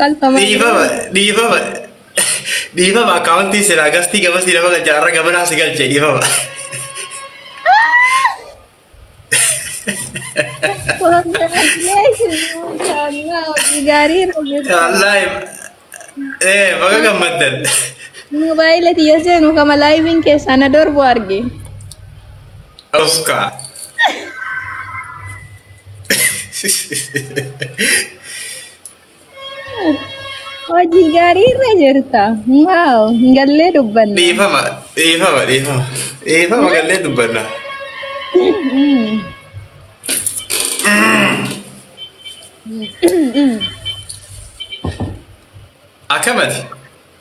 Qalfamaa Dhiifama, dhiifama, dhiifama akkaawuntii siraa gastii gamasii nama galcha har'a gamanaa si galche dhiifama. Gaarii Wallaahi, ee baga gammaddan. Mobaayila tiyya seenu kama laayiviin keessaa na dorbu arge. Oska. Hojii gaarii irra jirta. Waaw, hin gallee dubbanna. Dhiifama, dhiifama, dhiifama. Dhiifama gallee dubbanna. Akkamati?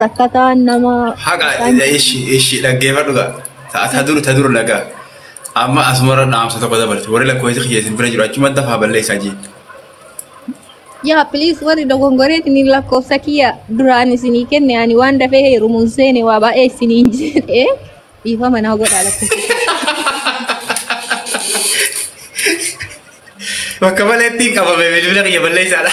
Akkataan nama Haqa ishi ishi dhaggeeffadhu gaa. Ta ta dur ta dur laga. Amma asumara dhaamsa tokko dabarti. Warri lakkoofsi kiyya isin bira jiru achuma dafaa balleessaa jee. yaa please warri dogongoreeti ni lakkoofsa kiyya duraan isinii kenne ani waan dafee heerumuun seene waa baay'ee isiniin jedhee dhiifama naa godhaa lakkoofsa. Bakka maleetti hin qabame bilbila kiyya balleessaadha.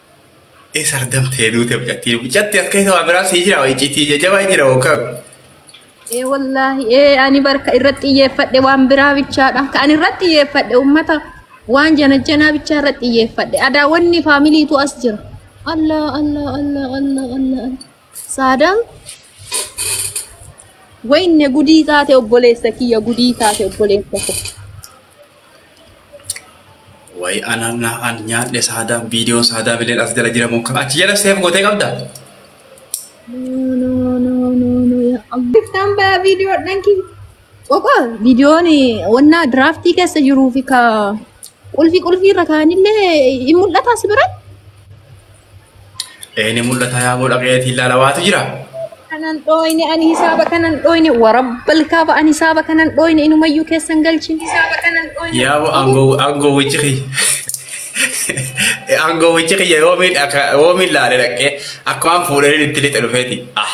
Eessa ardamtee duute mucattiin? Mucatti as keessa waa biraa sii jira iccitii jajjabaa jira hookaa. Ee wallaahi ee ani barka irratti xiyyeeffadhe waan biraa bichaadha. Kan irratti xiyyeeffadhe uummata waan janajjanaa bichaa irratti xiyyeeffadhe. Adaa wanni faamiliitu as jira. Allah Allah Allah Allah Allah. Allah. Saadaan wayne gudii taate obboleessa kiyya gudii taate obboleessa koo. Wayi anaan naa an nyaadhe saadaa viidiyoo saadaa bileen as jala jira muka achi jala seef gootee qabda. No no no no no ya Allah. Giftaan baa viidiyoo dhanki. Qoqa viidiyoon wannaa diraaftii keessa jiruu fi ka qulfi qulfii irra kaanillee hin mul'ataa si biratti. Ee ni mul'ata yaa boo dhaqeetii ilaala waatu jira. kanan dhooyne ani hisaaba kanan dhooyne warabbal kaaba ani hisaaba kanan dhooyne inumayyuu keessan galchin hisaaba kanan dhooyne Yaa boo aangoo aangoo wajji kiyya. Aangoo wajji kiyya yoo miidha yoo miidhaale dhaqee akkumaan fuudhanii itti lixe dhufeeti. Ah.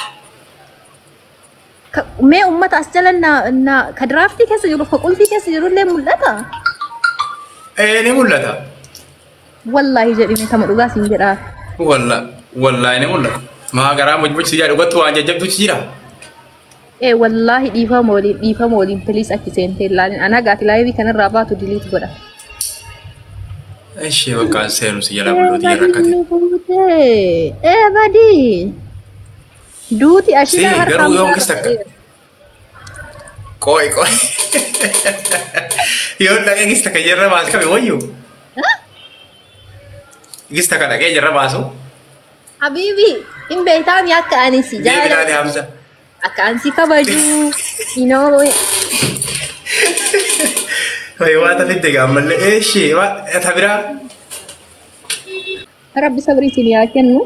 Ka- Mee uummata as jala na, na ka diraaftii keessa jiruuf ka qulfii keessa jirullee mul'ata. Ee ni mul'ata. Wallaahi jedhime tama dhugaa siin jedhaa. Walla wallaahi ni mul'ata. Maa garaa mojmochi jaa dhugattu waan jajjabduuchi jira. Ee wallaahi dhiifama waliin dhiifama waliin piliis achi seentee ilaalin. Anaa gaati laayivii kanarraa baatu diliit godha. Ishee bakka seenu si jala bullooti jala rakkate. Ee badii. Duuti ashitaa Sii, harkaa garuu yoomkis mucaa takka. dhaqabeera. Qooy qooy. Yoo dhaqee gista kan jirra baas qabe wayyu. Gista kan dhaqee jirra baasu. Habiibi hin beektaami akka ani si Deebi laali jaalladhu. Hamza. Akka ani si kabaju. Inoo Wayi waa tafitti egaa ammallee eeshi waa tabiraa. rabbi sabrii isin yaa kennu.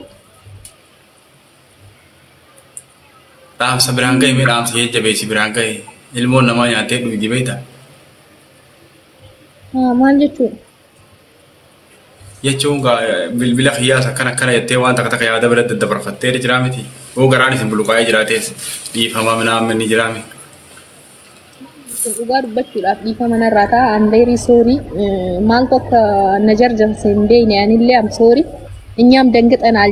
dhaamsa biraan gahe mee dhaamsa jajjabeessi biraan gahe ilmoon namaa nyaatee dhugdi beekta Haa, maal jechuudha? jechuun gaa bilbila kiyyaas akkana akkana jettee waan takka takka yaada bira daddabarfattee jiraa miti yoo garaan isin buluqaa'ee jiraatees dhiifamaa minaan minni jiraa miti. Dhugaa dubbachuudhaaf dhiifama narraa ta'a. I'm very sorry. Eh, Maaltu akka na jarjarse hin beekne anillee I'm sorry. Inyaam danqixanaal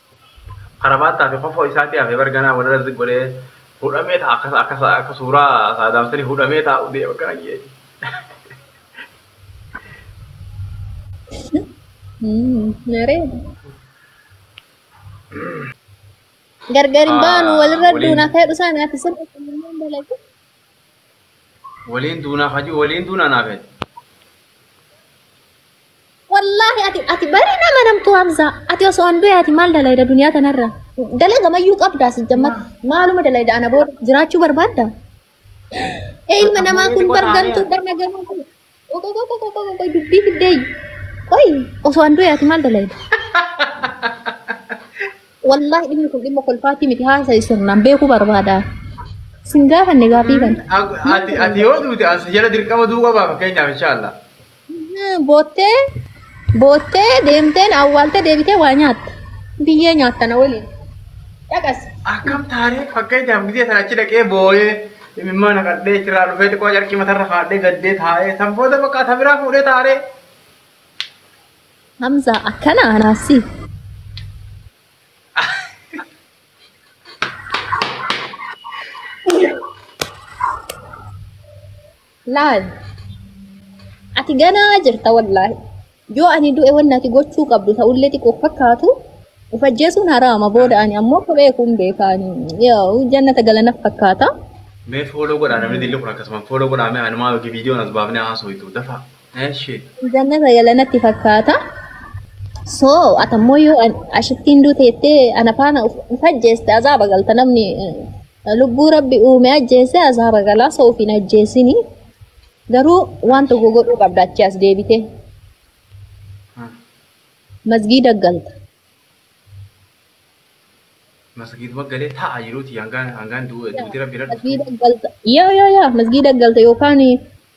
Karamaataa fi kofoo isaatii hafee bar ganaa walirra zig godhee hudhamee ta'a akka akka akka suuraa saadaam sanii hudhamee taa'u deema gara keeti. Naree. Gargar hin baanu walirra Waliin- duuna kee dhusaan ati sirba kennameen dalagu. Waliin duunaa hajuu waliin duunaa naafee. Wallaahi ati ati barii nama namtu Hamza ati osoo an du'e ati maal dalayda duniyaa tanarra dalaga mayyuu qabdaa si jammat maaluma dalayda ana booda jiraachuu barbaadda ee ilma namaa kun bargantuu dana gamoo kun qoqo qoqo qoqo qoqo dubbii fiddee qoy osoo an du'e ati maal dalayda wallaahi dhimmi kun dhimma kolfaatii miti haasa'i sirnaan beekuu barbaada sin gaafanne gaafii kana Ati ati yoo duute as jala dirqama du'uu qabaa fakkeenyaaf inshaallah. Boottee boottee deemteen awwaaltee deebitee waa nyaatta. Biyyee nyaatta na waliin. Dhaqas. Akkam taaree fakkeenyaaf gidee sana achi dhaqee booyee imimmaa naqadhee achirraa dhufee xiqqoo carqii matarra kaadhee gaddee taa'ee san booda bakka ata biraa fuudhee taaree. Hamza akkana anaassi. Laal. Ati ganaa jirta wallaahi. Yoo ani du'e wanni ati gochuu qabdu ta'ullee xiqqoo fakkaatu of ajjeesuun haraama booda ani ammoo kophee kun beekaani. Yoo jannata galana fakkaata. Mee fooloo godhaa namni dilli kun akkasumaan fooloo godhaa mee anumaa yookiin viidiyoon as baafnee haasoo hitu dafaa. Eshi. Jannata gala natti fakkaata. So atammoo yoo an- ashittiin duute jettee ana faana of of ajjeeste azaaba galta namni eh, lubbuu rabbi uume ajjeese azaaba galaa so ofiin ajjeesini. Garuu waan tokko godhuu qabda achi as deebite Ah, masgiida galta. Masgiiduma galee taa'aa jiruuti hangaan hangaan du- duuti rabbi irra dhuftu. Masgiida galta. Yoo yoo yoo masgiida galta yookaan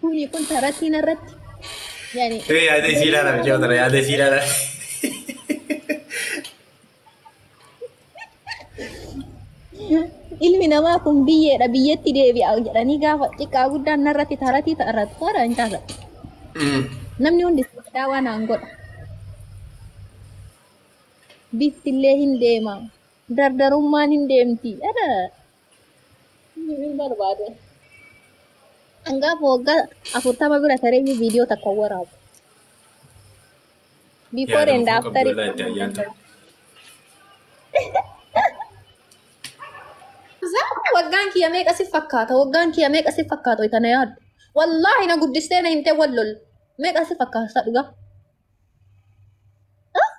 Kuni kun taratii narratti. Yani. Hee yaada isii ilaala bichaa tana yaada isii ilaala. Ilmi namaa kun biyyeedha biyyeetti deebi'a jedhanii gaafa xiqqaa guddaan narratti taratii taratu tara hin taasa. Namni hundi sodaa waan aan godha. Biftillee hin deema. Dardarummaan hin deemti. Dhala. Hin barbaadu. Hangaa waggaa afurtama bira tareeyyuu viidiyoo takka hin waraabu. Before and Yaadamuu after. qabdu laadda ayyaan ta'a. Zaata waggaan kiyya meeqa si fakkaata? Waggaan kiyya meeqa si fakkaata? Wayita na yaaddu. Wallaahi na guddistee na himtee wal lol. Meeqa si fakkaata dhugaa? Ah?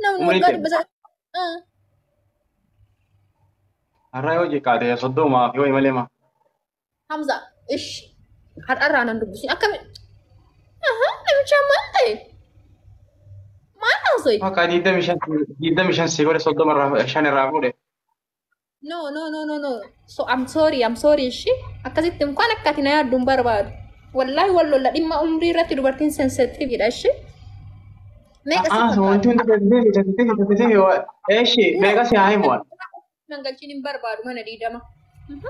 Namni Umriin waggaa kee- dhibba sadii Ah, Har'aa yoo xiqqaate soddomaa fi wayi malee ma. Hamza, ish. Har'arraa nan dubbisu. Akkami? Aha, namicha maal ta'e? Maal haasa'e? Bakka digdami shan digdami shan si godhe soddoma irraa shan irraa fuudhe. No, no, no, no, no. So, I'm sorry, I'm sorry, ishee. Akkasitti mukaan akka ati na yaaddu hin barbaadu. Wallaahi wal lolla dhimma umrii irratti dubartiin sensitive dha, ishee. Meeqa si A'aa, wanti fakkaata? hundi tasbiifi, tasbiifi, tasbiifi, wa- eeshi, No, meeqa si haa himu? wa- nan galchiin hin barbaadu mana diidama. Mhm.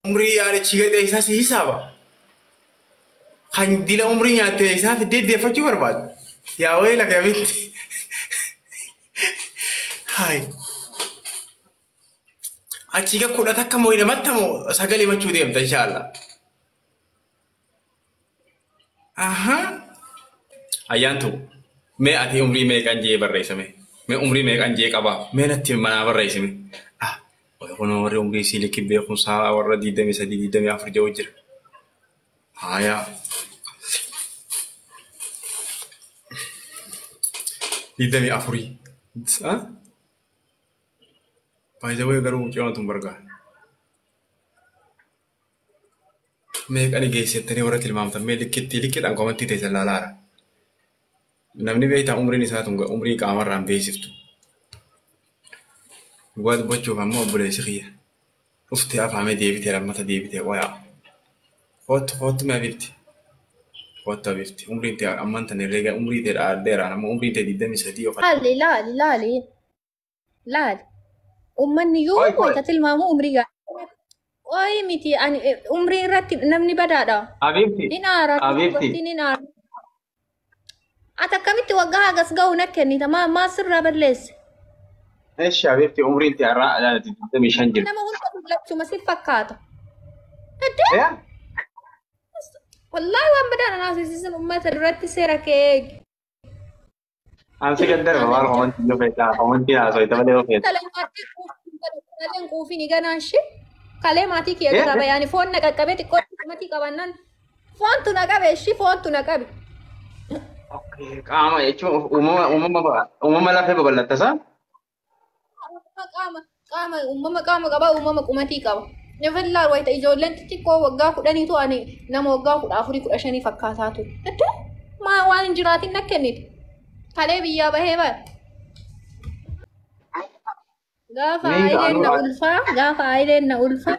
Umrii yaalichi gadi isaa si hisaaba. Kan dila umrii nyaatte isaa fiddee deeffachuu barbaadu. Yaa wayii laga mitti. Haay. Achi ga kudha takka moo hidhamatta moo sagalee machuu deemta inshaallah. Ahaa. Ayyaantu mee ati umrii meeqan jee barreessame? Mee umrii meeqan jee qabaa? Mee natti manaa barreessime. Ah, kun warri umrii sii likki beekumsaa warra 23 24 ja'u jira. Haayaa. Digdamii afurii. Baay'ee garuu mucayyoon tun bargaa. meeqa ni geessettanii warra tilmaamtan mee likkittii likkiidhaan komantii teessan laalaara. Namni beektaa umriin isaa tun umrii qaamarraan beeksiftu. Dhugaa dubbachuuf ammoo obboleessi kiyya. Dhuftee afaamee deebitee lammata deebitee wayaa. Koottu koottu mee abibti. Koottu abibti. Umriin tee amman tan herreega umrii tee dhaadheeraan ammoo umriin tee 23 yookaan Laali laali laali. Laali. Ummanni yoo Qoy, qoy. wayita tilmaamu umrii gaafata. Qoyi miti ani eh, umrii irratti namni badaadha. Habiibti. Hin aara Habiibti. dubartiin hin aara. Ati akkamitti waggaa hagas ga'u na kennita maa maa sirraa balleesse. Eshi habiibti umriin ti har'aa alaati 25 jirti. Nama hunda dullachuma si fakkaata. Addee Eh? wallaahi waan badaa na naasisiisan uummata duratti seera kee eegi. An si gaddarba maal komantii yoo feetaa komantii haasoo itti malee yoo feetu. Kaleen quufiin ganaa ishee kalee maatii kiyya irraa bayaani foon na qaqqabee xiqqoo maatii qabannaan foontu na qabe ishii foontu na qabe. Qaama jechuun uumama uumama uumama lafee babal'attasa. qaama qaama uumama qaama qaba uumama qumatii qaba. Nafallaa wayita ijoolleen xixiqqoo waggaa kudhanii tu ani nama waggaa kudha afurii kudha shanii fakkaataa ture. Itti maa waan hin jiraatin na kennite. Kalee biyyaa bahee bara. Gaafa Ni, ayileen na anu- ulfaa gaafa ayileen na ulfaa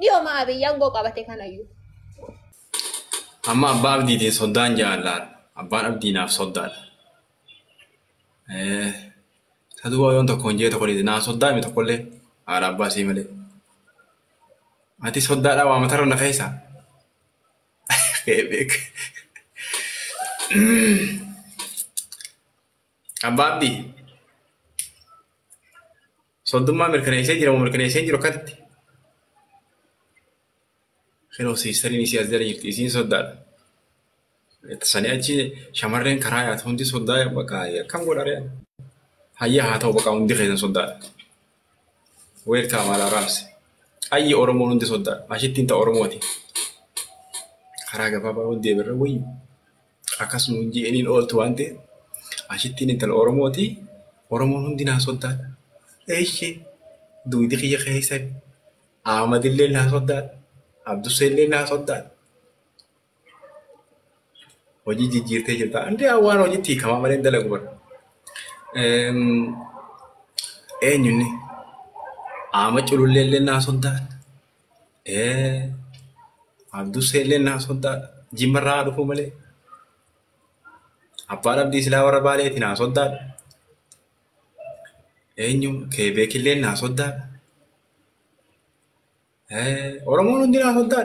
Dhiyooma Abiy aangoo qabate kanayyuu. Amma abbaa abdiitiin soddaan jaallaan. Abbaan abdii naaf soddaadha. Eh, Isa duuba yoon tokko hin jee tokko dhiise naa soddaa mi tokkollee haadha abbaa isii malee. Ati soddaadhaa waa matarra na keessa. Beek. Abbaa abdii. Soddummaa mirkaneessee jira moo mirkaneessee hin jiru akkatti? Kenoo siistariin isii as jala jirti isiin soddaadha. Sanii achi shamarreen karaa yaatu hundi soddaa bakka akkam godharee. Hayyaa haa ta'u bakka hundi keessan soddaadha. Weerkaa maalaa raabse. Ayyi Oromoon hundi soddaadha. Ashittiin ta'a Oromooti. Karaa gabaabaa hundi eberra wayyu. Akkas nuun je'eniin ooltu waan ta'e ashittiin intala Oromooti Oromoon hundi naa soddaadha. Eeshi duudi kiyya keessan Ahmadillee naa soddaadha. Abdusseellee naa soddaadha. Hojii jijjiirtee jirta. Andee waan hojiitti hiikamaa malee hin dalagu bara. Eenyunni Ahmad cululleellee naa soddaadha. Eh, Abduu Seellee naa soddaa jimmarraa haa dhufuu malee. Abbaan Abdii silaa warra baaleeti naa soddaa. Eenyu keebeekillee naa soddaa. Eh, Oromoon hundi naa soddaa.